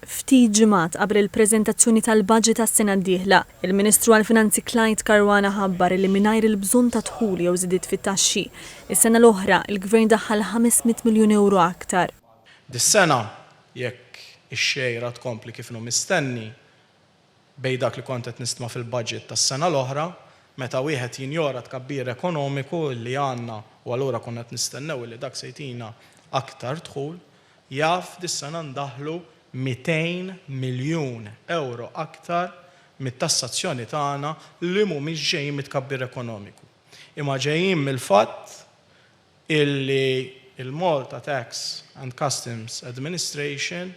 Ftit ġimgħat qabel il-preżentazzjoni tal-baġit għas-sena d-dieħla, il-Ministru għall-Finanzi Clyde Caruana ħabbar li mingħajr il-bżonn ta' dħul jew żidiet fit-taxxi, is-sena l-oħra, il-Gvern daħħal 500 miljun ewro aktar. Dis-sena, jekk ix-xejra tkompli kif inhu mistenni, bejn dak li kont qed nistma' fil-budget tas-sena l-oħra, meta wieħed jinjora t-tkabbir ekonomiku li għandna u allura konna qed nistennew li dak se jtina aktar dħul, jaf dis-sena ndaħħlu 200 miljun ewro aktar mit-tassazzjoni tagħna li mhumiex ġejjin mit-tkabbir ekonomiku, imma ġejjin mill-fatt illi l-Malta Tax and Customs Administration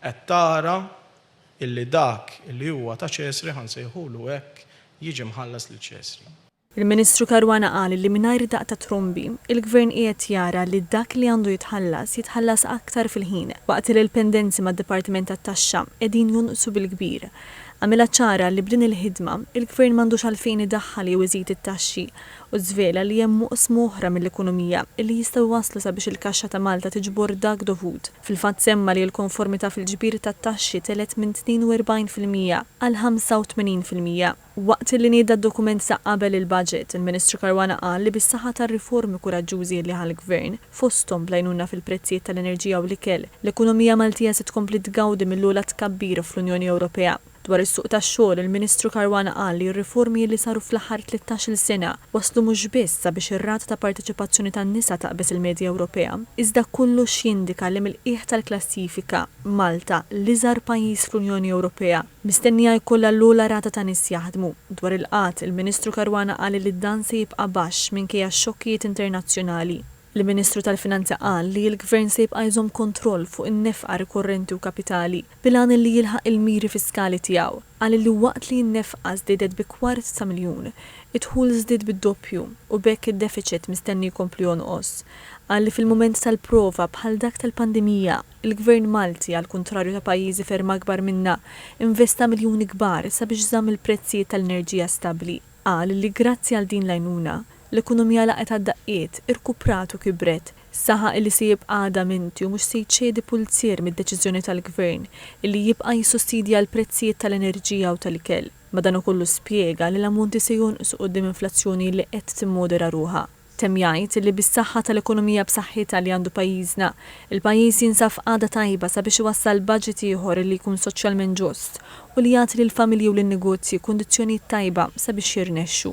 qed tara Illi dak li huwa ta' Ċesri, ħa nsejħulu hekk, jiġi mħallas lil Ċesri. Il-Ministru Caruana qal li mingħajr daqq ta' trombi, il-Gvern qiegħed jara li dak li għandu jitħallas, jitħallas aktar fil-ħin, waqt li l-pendenzi mad-Dipartiment tat-Taxxa qegħdin jonqsu bil-kbir. Għamilha ċara li b'din il-ħidma, il-Gvern m'għandux għalfejn idaħħal jew iżid it-taxxi u żvela li hemm oqsma oħra mill-ekonomija li jistgħu jwasslu sabiex il-kaxxa ta' Malta tiġbor dak dovut. Fil-fatt semma li l-konformità fil-ġbir tat-taxxi telgħet minn 42 fil-mija għal 85 fil-mija. Waqt li nieda d-dokument sa qabel il-Baġit, il-Ministru Caruana qal li bis-saħħa tar-riformi kuraġġużi li ħa l-Gvern, fosthom bl-għajnuna fil-prezzijiet tal-enerġija u l-ikel, l-ekonomija Maltija se tkompli tgawdi mill-ogħla tkabbir fl-Unjoni Ewropea. Dwar is-suq tax-xogħol, il-Ministru Caruana qal li r-riformi li saru fl-aħħar tlittax-il sena wasslu mhux biss sabiex ir-rata ta' parteċipazzjoni tan-nisa taqbeż il-medja Ewropea, iżda kollox jindika li mill-qiegħ tal-klassifika, Malta, l-iżgħar pajjiż fl-Unjoni Ewropea, mistennija jkollha l-ogħla rata ta' nies jaħdmu. Dwar il-qgħad, il-Ministru Caruana qal li dan se jibqa' baxx minkejja x-xokkijiet internazzjonali. L-Ministru tal-Finanzi qal li l-Gvern se jibqa' jżomm kontroll fuq in-nefqa rikorrenti u kapitali bil-għan li jilħaq il-miri fiskali tiegħu. Qal li waqt li n-nefqa żdiedet bi kwart ta' miljun, id-dħul żdied bid-doppju u b'hekk id-defiċit mistenni jkompli jonqos. Qal li fil-mument tal-prova bħal dak tal-pandemija, il-Gvern Malti, għall-kuntrarju ta' pajjiżi ferm akbar minna, investa miljuni kbar sabiex żamm il-prezzijiet tal-enerġija stabbli. Qal li grazzi għal din l-għajnuna, L-ekonomija laqgħet għad-daqqiet, irkuprat u kibret. Saħaq illi se jibqa' adaminti u mhux se jċedi pulzier mid-deċiżjoni tal-Gvern illi jibqa' jissussidja l-prezzijiet tal-enerġija u tal-ikel. Madankollu spjega li l-ammonti se jonqsu quddiem inflazzjoni li qed timmodera ruħha. Temm jgħid illi bis-saħħa tal-ekonomija b'saħħitha li għandu pajjiżna, il-pajjiż jinsab f'qagħda tajba sabiex iwassal budget ieħor illi jkun soċjalment ġust u li jagħti lill-familji u lin-negozji kundizzjonijiet tajba sabiex jirnexxu.